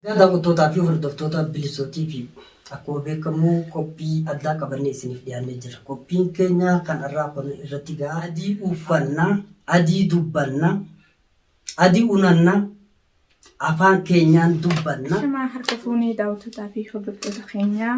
Egaa daawwattootaa fi hordoftoota Bilisoo TV akkuma beekamu qophii addaa qabannee isiniif dhiyaannee jirra. Qophiin keenya kan har'aa kun irratti ga'a. Adii uffanna, adii dubbanna, adii unanna, afaan keenyaan dubbanna. Shama harka fuunee daawwattootaa fi hordoftoota keenyaa.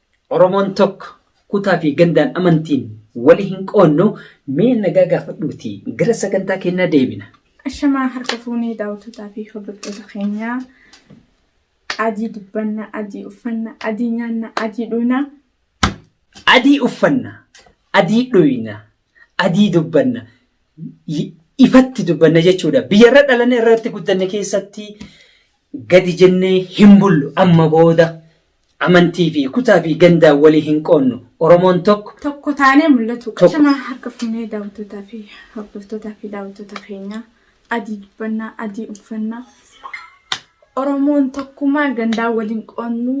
Oromoon tokko kutaa fi gandaan amantiin wali hin qoodnu mee nagaa gaafadhuuti gara sagantaa keenyaa deebina. Ashamaa harka fuunee daawwattoota fi hordoftoota keenyaa adii dubbanna, adii uffanna, adii nyaanna, adii dhuyna. Adii uffanna, adii dhuyna, adii dubbanna, y- ifatti dubbanna jechuudha. Biyya irra dhalanne irratti guddanne keessatti gadi jennee hin bullu amma booda Amantii fi kutaa fi gandaan wali hin qoonnu. Oromoon tokko. Tokko taanee mul'atu qabna. Ashama harka fuunee daawwattootaa fi hordoftootaa fi daawwattoota keenyaa adii dubbannaa adii uffannaa Oromoon tokkumaa gandaan wal hin qoonnu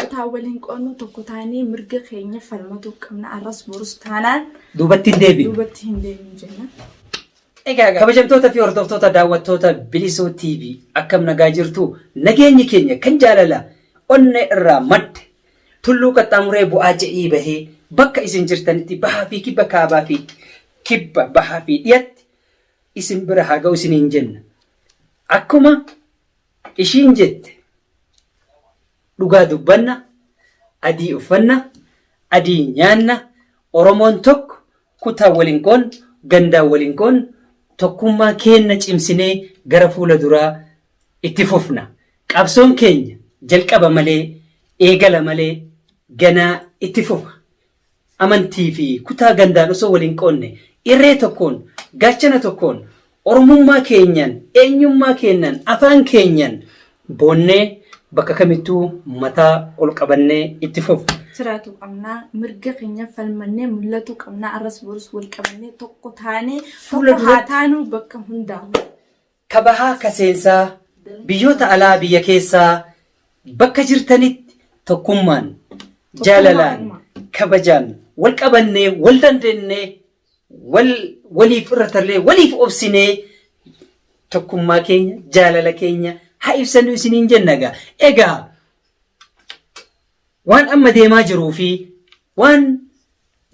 kutaan wal hin qoonnu tokko taanee mirga keenya falmatuu qabna arras borus taanaan Duubatti hin deebinu. duubatti hin deebinu jenna. Egaa kabajamtoota fi hordoftoota daawwattoota Bilisuu TV akkam nagaa jirtu nageenyi keenya kan jaalala onnee irraa madde tulluu qaxxaamuree bu'aa je'ii bahee bakka isin jirtanitti bahaa fi kibba kaabaa fi kibba bahaa fi dhiyatti isin bira haa ga'u isiniin jenna. Akkuma ishiin jette dhugaa dubbanna adii uffanna adii nyaanna Oromoon tokko Kutaa waliin qoon, gandaan waliin qoon tokkummaa keenna cimsinee gara fuula duraa itti fufna. Qabsoon keenya jalqaba malee eegala malee ganaa itti fufa. Amantii fi kutaa gandaan osoo waliin qoonne irree tokkoon, gaachana tokkoon Oromummaa keenyan, eenyummaa keennan, afaan keenyan boonnee bakka kamittuu mataa ol qabannee itti fufna. jiraatu qabna. Mirga keenyaf falmannee mul'atuu qabna. Arras borus wal qabannee tokko taanee Fuula tokko haa duratti- taanuu bakka hundaa'u. Ka bahaa ka seensaa, biyyoota alaa biyya keessaa bakka jirtanitti tokkummaan, jaalalaan, kabajaan wal qabannee wal dandeennee wal waliif irra tarree waliif obsinee tokkummaa keenya jaalala keenya haa ibsannu isiniin jenna egaa egaa waan amma deemaa jiruu fi waan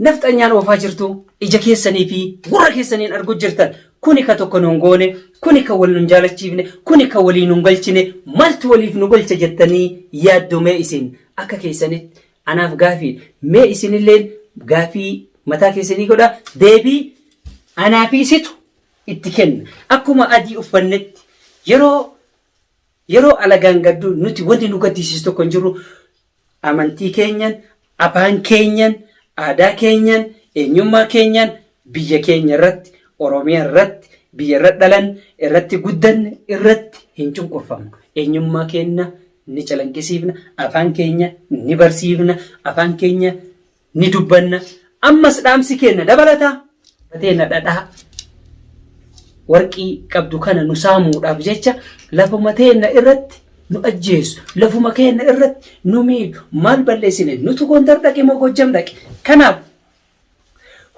nafxanyaan oofaa jirtu ija keessanii fi gurra keessaniin argu jirtan kuni ka tokko nun goone kuni ka wal nun jaalachiifne kuni ka walii nun galchine maaltu waliif nu galcha jettanii yaaddomee isin akka keessanitti Anaaf gaafiidha. Mee isinilleen gaafii mataa keessanii godhaa. Deebii anaa fi isitu itti kenna. Akkuma adii uffannetti yeroo yeroo alagaan gaddu nuti wanti nu gaddisiisu tokko hin jiru. Amantii keenyan, afaan keenyan, aadaa keenyan, eenyummaa keenyan, biyya keenya irratti, Oromiyaa irratti, biyya irra dhalanne, irratti guddanne irratti hin cunqurfamnu. Eenyummaa keenna ni calaqqisiifna, afaan keenya ni barsiifna, afaan keenya ni dubbanna. Ammas dhaamsi keenna dabalataa teena dhadhaa warqii qabdu kana nu saamuudhaaf jecha lafuma teenna irratti nu ajjeesu, lafuma keenna irratti nu miidhu, maal balleessine nutu Gondar dhaqe moo Gojjam dhaqe? Kanaaf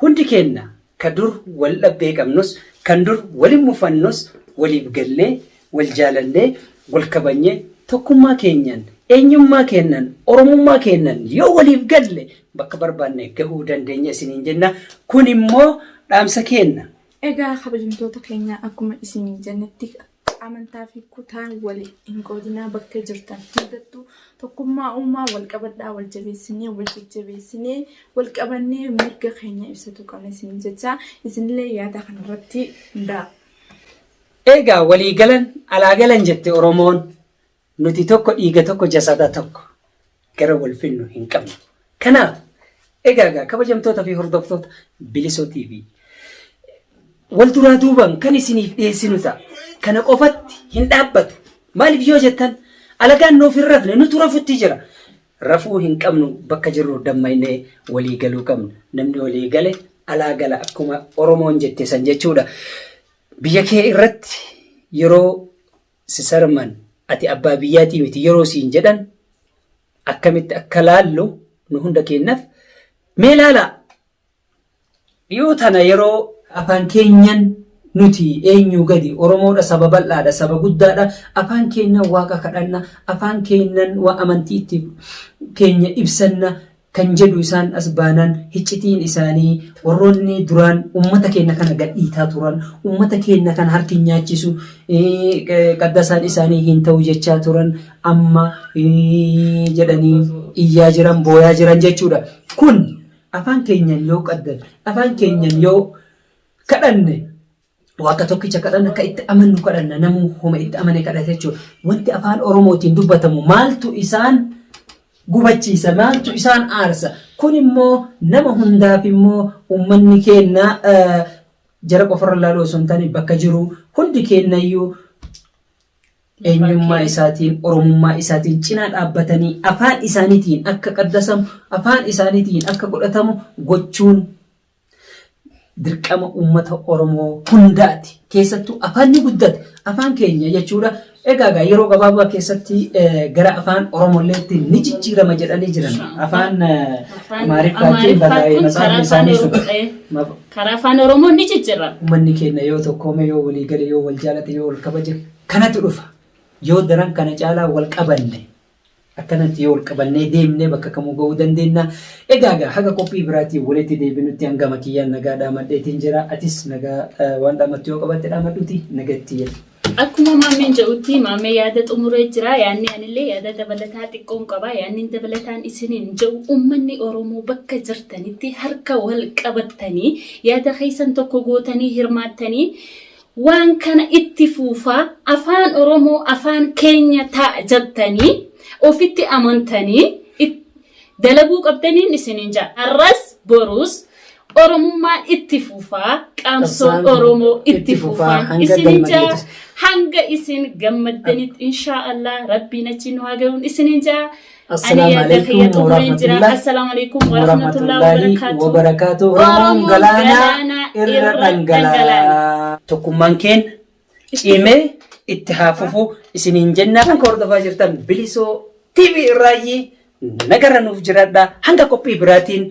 Hundi keenna ka dur wal dhabbee qabnus, kan dur waliin mufannus waliif gallee, wal jaalannee, wal kabajnee, tokkummaa keenyan, eenyummaa keennan, Oromummaa keennan yoo waliif galle bakka barbaanne gahuu dandeenya isiniin jenna. Kun immoo dhaamsa keenna. Egaa kabajamtoota keenya akkuma isiniin jennetti amantaa fi kutaan wal hin qoodinaa bakka jirtan hundattuu tokkummaa uumaa wal qabadhaa wal jabeessinee wal jajjabeessinee wal qabannee mirga keenya ibsatu qabna isin jecha isinillee yaada kanarratti hundaa. Eegaa walii galan alaa galan jette Oromoon Nuti tokko dhiiga tokko jasada tokko gara wal finnu hin qabnu. Kanaaf egaa egaa kabajamtoota fi hordoftoota bilisoo TV wal duraa duubaan kan isiniif dhiyeessinu ta'a. Kana qofatti hin dhaabbatu. Maaliif yoo jettan alagaan nuuf hin rafne nutu rafutti jira. Rafuu hin qabnu bakka jirru dammaynee walii galuu qabna. Namni walii gale alaa gala akkuma Oromoon jette san jechuudha. Biyya kee irratti yeroo Sisarman ati abbaa biyyaatii miti yeroo siin jedhan akkamitti akka laallu nu hunda keennaf mee laalaa dhiyoo tana yeroo afaan keenyan nuti eenyuu gadi oromoodha saba bal'aadha saba guddaadha afaan keennan waaqa kadhanna afaan keennan waa amantii itti keenya ibsanna kan jedhu isaan as baanaan hiccitiin isaanii warroonni duraan ummata keenna kana gadhiitaa turan, ummata keenna kana harki hin nyaachisu, qaddasaan isaanii hin ta'u jechaa turan amma jedhanii iyyaa jiran, booyaa jiran jechuudha. Kun afaan keenyan yoo qaddan, afaan keenyan yoo kadhanne Waaqa tokkicha kadhanna akka itti amannu kadhanna namuu homa itti amane kadhata jechuudha. Wanti afaan Oromootiin dubbatamu maaltu isaan gubachiisa maaltu isaan aarsa kun immoo nama hundaaf immoo uummanni keenna jara qofarra ilaaluu osoo hin taane bakka jiru hundi keennayyuu eenyummaa isaatiin oromummaa isaatiin cinaa dhaabbatanii afaan isaaniitiin akka qaddasamu afaan isaaniitiin akka godhatamu gochuun dirqama uummata Oromoo hundaati. Keessattuu afaanni guddate afaan keenya jechuudha. Egaa egaa yeroo gabaabaa keessatti eh, gara afaan Oromolleetti ni jijjiirama jedhanii jiran. Afaan eh, Afaan Amaariffaatiin barraa'ee Amaariffaatiin masaafni karaa afaan isaanii sun. Oromoo ta'e. Ma- Karaa afaan Oromoo ni jijjiirama. Uummanni keenya yoo tokkoome, yoo walii gale, yoo wal jaalate, yoo wal kabaje kanatu dhufa. Yoo daran kana caalaa wal qabanne Akkanatti yoo ol qabannee deemne bakka kamuu ga'uu dandeenya. Egaa egaa haga qophii biraatiin walitti deebinutti hangama kiyyaan nagaa dhaamadheetiin jira. Atis nagaa eh, waan dhaamattu yoo qabaatte dhaamadhuuti nagatti jedhi. Akkuma maammeen jedhutti maammee yaada xumuree jira. Yaadni anillee yaada dabalataa xiqqoon qaba. Yaadni dabalataan isiniin jedhu uummanni Oromoo bakka jirtanitti harka wal qabattanii yaada keessan tokko gootanii hirmaattanii Waan kana itti fuufaa afaan oromoo afaan keenya ta'a jattanii ofitti amantanii it- dalaguu qabdaniin isiniin jaa har'as boruus oromummaan itti fuufaa qaamsoon Qabsaan oromoo itti itti fufaa, fufaan hanga isiniin jaa gammadanitti. hanga isin gammaddanitti inshaa allah rabbiin achi nu haa ga'uun isiniin jaa Assalaamu alaikum warahmatullahi Assalaamu alaikum warahmatullahi wabarakatuh. wabarakaatu. Oromoon galaanaa irra dhangalaa. Tokkummaan keenya cimee itti haa fufu isiniin jennaa kan hordofaa jirtan bilisoo TV irraayyii nagarra nuuf jiradha hanga qophii biraatiin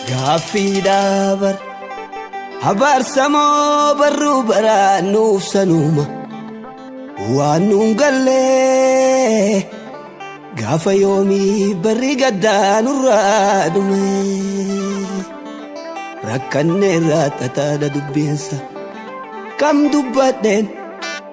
Gaaffiidhaa bar abaarsamoo barruu baraa nuuf sanuuma waan nuun gallee gaafa yoomii barri gaddaa nurraa dhume rakkanneerraa xaxaadha dubbeensa kam dubbadheen.